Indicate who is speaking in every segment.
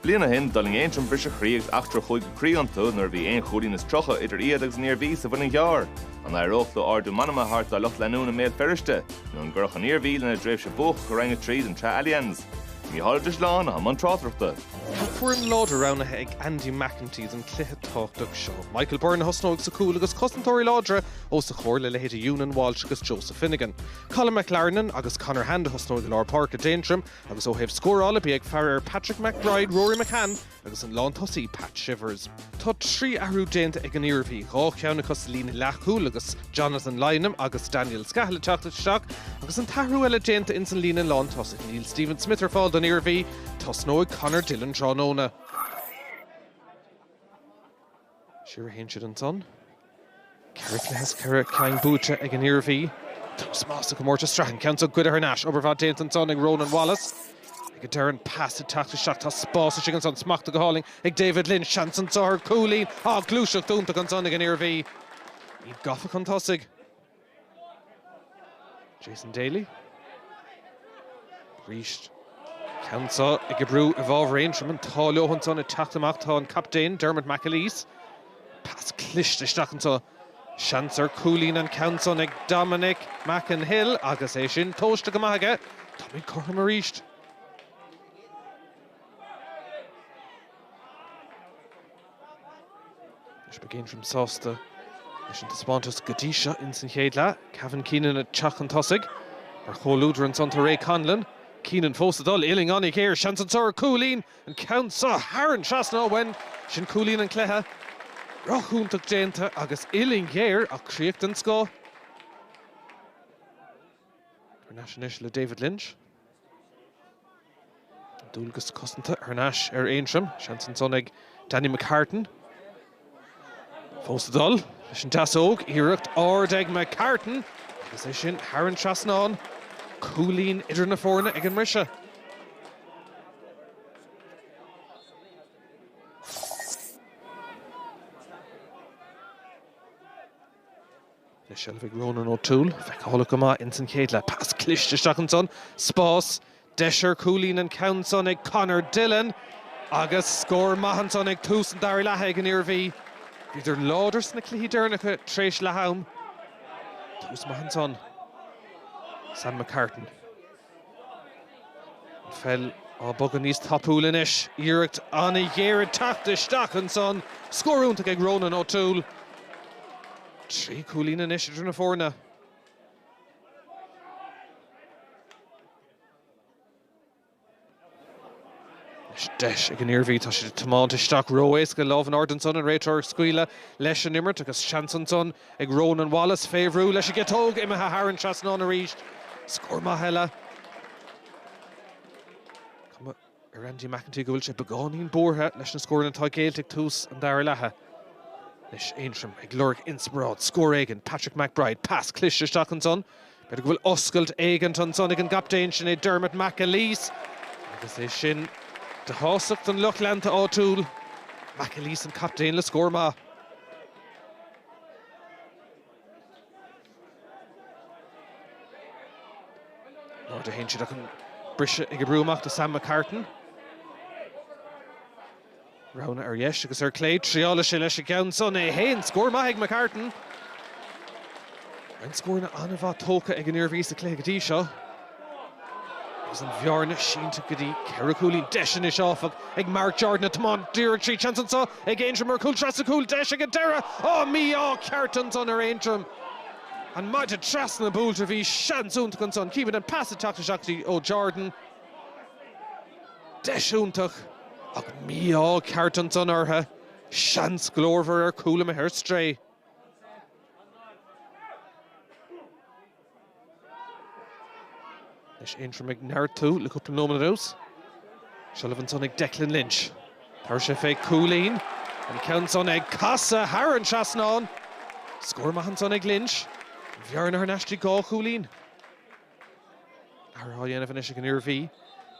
Speaker 1: Bliain ó shin, d'fhuiling Aontroim briseadh croí agus eachtra chuig an gcroí iontu nuair a bhí aon chúilín is tríocha idir iad agus an Iarmhí sa Mhuileann gCearr. An éireodh leo ardú meanma a thabhairt dá lucht leanúna i mBéal Feirste? Nó an gcuirfeadh an Iarmhí lena dtréimhse buacach i Roinn 3 den tSraith Allianz? Mícheál Ó Drisleáin, i mbun tráchtaireachta. Tá foireann
Speaker 2: láidir roghnaithe ag Andy McEntee don chluiche tábhachtach seo. Michael Byrne a thosnóidh sa chúl agus cosantóirí láidre os a chomhair le leithéidí Eunan Walsh agus Joseph Finnegan. Colm McLarnon agus Conor Hand a thosnóidh i lár páirce d'Aontroim agus ó thaobh scórála bígí ag faire ar Patrick McBride, Rory McCann agus an lántosaí Pat Shivers. Tá trí athrú déanta ag an Iarmhí, dhá cheann acu sa líne leathchúil agus Jonathan Lynam agus Daniel Scahill ag teacht isteach agus an t-athrú eile déanta ins an líne lántosaigh, níl Stephen Smith ar fáil don Iarmhí, tosnóidh Conor Dillon tráthnóna. Siar a théann siad ansan. Ceithre chluiche as ceithre ceann buaite ag an Iarmhí. Tús maith sa gcomórtas sraithe. An ceann seo ag dul thar n-ais. Obair mhaith déanta ansan ag Rónán Wallace. Ag a deireadh an pas ag teacht isteach. Tá spás istigh ansan. Smachta go hálainn ag David Lynch. Seans ansan ar. Cúilín. Á! Gluaiseacht iontach ansan ag an Iarmhí. Iad gafa chun tosaigh. Jason Daly, arís ceann anseo ag oibriú i bhfábhar Aontroim, an t-ádh leo ansan ag teacht amach, tá an captaen, Dermot McAleese, pas cliste isteach anseo, seans ar chúilín an ceann san ag Dominic McEnhill agus é sin tomhaiste go maith aige, tá muid cothrom arís. Beidh Aontroim sásta leis an taispeántas go dtí seo ins an chéad leath. Kavan Keenan ag teacht chun tosaigh mar chomhluadar ansan tá Ray Connellan. Keenan fós ag dul uillinn an-ghéar. Seans ansan. Cúilín! An ceann seo thar an trasnán. Sin cúilín an chluiche. Rogha iontach déanta agus uillinn ghéar ach críoch den scoth. Thar n-ais anois le David Lynch. An dualgas cosanta thar n-ais ar Aontroim. Seans ansan ag Danny McCartan. Fós ag dul leis an deasóg. Iarracht ard ag McCartan agus é sin thar an trasnán. Cúilín idir na foirne ag an mbriseadh. le seilbh ag Ronan O'Toole. Feiceálach go maith insan chéad leath. Pas cliste isteach ansan. Spás. Deis ar chúilín an ceann san ag Conor Dillon. Agus scór maith ansan ag tús an dara leatha ag an Iarmhí. Bhíodar láidir sna cluichí deireanacha tar éis leath-am. Tús maith ansan. Sam McCartan. An pheil á bogadh níos tapúla anois, iarracht ana-ghéar ag teacht isteach ansan, scór iontach ag Ronan O'Toole. Trí chúilín anois idir na foirne. Anois deis ag an Iarmhí, tá siad ag tiomáint isteach ró-éasca lámh in airde ansan, an réiteoir ag scaoileadh leis an imirt agus seans ansan ag Rónán Wallace fé bhrú leis an gciotóg, imithe thar an trasnán arís. Scór maith eile. Cuma ar Andy McEntee go bhfuil sé beagáinín buartha leis na scóranna atá géillte ag tús an dara leath. Anois Aontroim ag lorg inspioráid, scór éigin, Patrick McBride, pas cliste isteach ansan, B'fhéidir go bhfuil oscailt éigint ansan ag an gcaptaen, sin é Dermot McAleese agus é sin de shástacht don lucht leanta áitiúil. McAleese an captaen le scór maith. In airde a théann siad ach an briseadh ag oibriú amach do Sam McCartan. Roghanna ar dheis agus ar clé, triálfaidh sé leis an gceann san é fhéin. Scór maith ag McCartan. Roinnt scóranna an-mhaith tógtha ag an Iarmhí sa chluiche go dtí seo agus an bhearna sínte go dtí ceithre chúilín. Deis anois áfach ag Marc Jordan, ag tiomáint díreach tríd. Seans anseo ag Aontroim ar chúl trasna an chúil, deis ag an deireadh. Áh! Mí-ádh ceart ansan ar Aontroim. An maide trasna buailte, bhí seans iontach ansan. Címid an pas ag teacht isteach díreach ó Jordan. Deis iontach, ach mí-ádh ceart ansan orthu. Seans glórmhar ar chúl imithe ar strae. Anois Aontroim ag neartú le cúpla nóiméad anuas. Seilbh ansan ag Declan Lynch. Tabharfaidh sé fé chúilín. An ceann san ag casadh thar an trasnán. Scór maith ansan ag Lynch. An bhearna thar n-ais go dtí dhá chúilín. Athrú á dhéanamh anois ag an Iarmhí.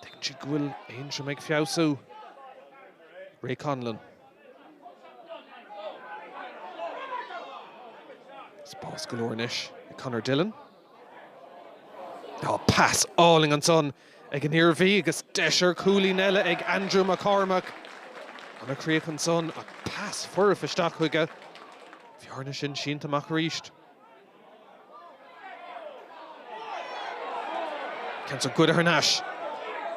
Speaker 2: Tuigeann siad go bhfuil Aontroim ag feabhsú. Ray Connellan. Spás go leor anois ag Conor Dillon. Á, pas álainn ansan ag an Iarmhí agus deis ar chúilín eile ag Andrew McCormack. Ana-chríoch ansan ach pas foirfe isteach chuige. Bhearna sin sínte amach arís. Ceann ag dul thar n-ais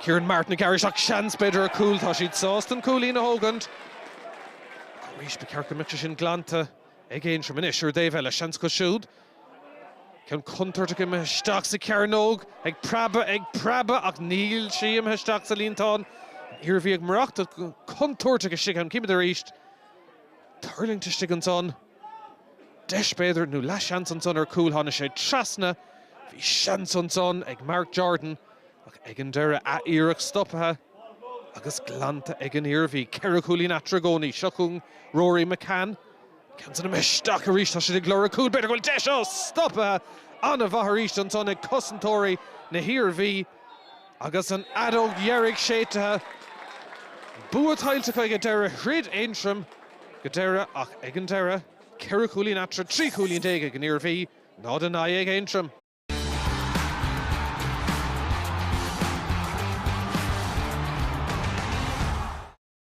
Speaker 2: Kieran Martin ag gearradh isteach, seans b'fhéidir ar chúl. Tá siad sásta an cúilín a thógaint ach arís ba cheart go mbeadh sé sin glanta ag Aontroim. Anois ar an dtaobh eile, seans acu siúd. Ceann contúirteach imithe isteach sa chearnóg, ag preabadh, ag preabadh ach níl sí imithe isteach sa líontán. An Iarmhí ag marachtacht go contúirteach istigh ann. Címid arís tuirlingt istigh ansan. Deis, b'fhéidir, nó leathsheans ansan ar chúl, tháinig sé trasna, bhí seans ansan ag Mark Jordan ach ag an deireadh, an iarracht stoptha agus glanta ag an Iarmhí. Ceithre chúilín eatarthu i gcónaí. Seo chugainn Rory McCann. Ceann sin, ann isteach arís, tá siad ag lorg cúil, b'fhéidir go bhfuil deis, ó stoptha! An-mhaith arís ansan ag cosantóirí na hIarmhí. Agus an fheadóg dheiridh séidtithe, bua tuillte acu go deireadh, throid Aontroim go deireadh ach ag an deireadh, ceithre chúilín eatarthu, trí chúilín déag ag an Iarmhí, náid a naoi ag Aontroim.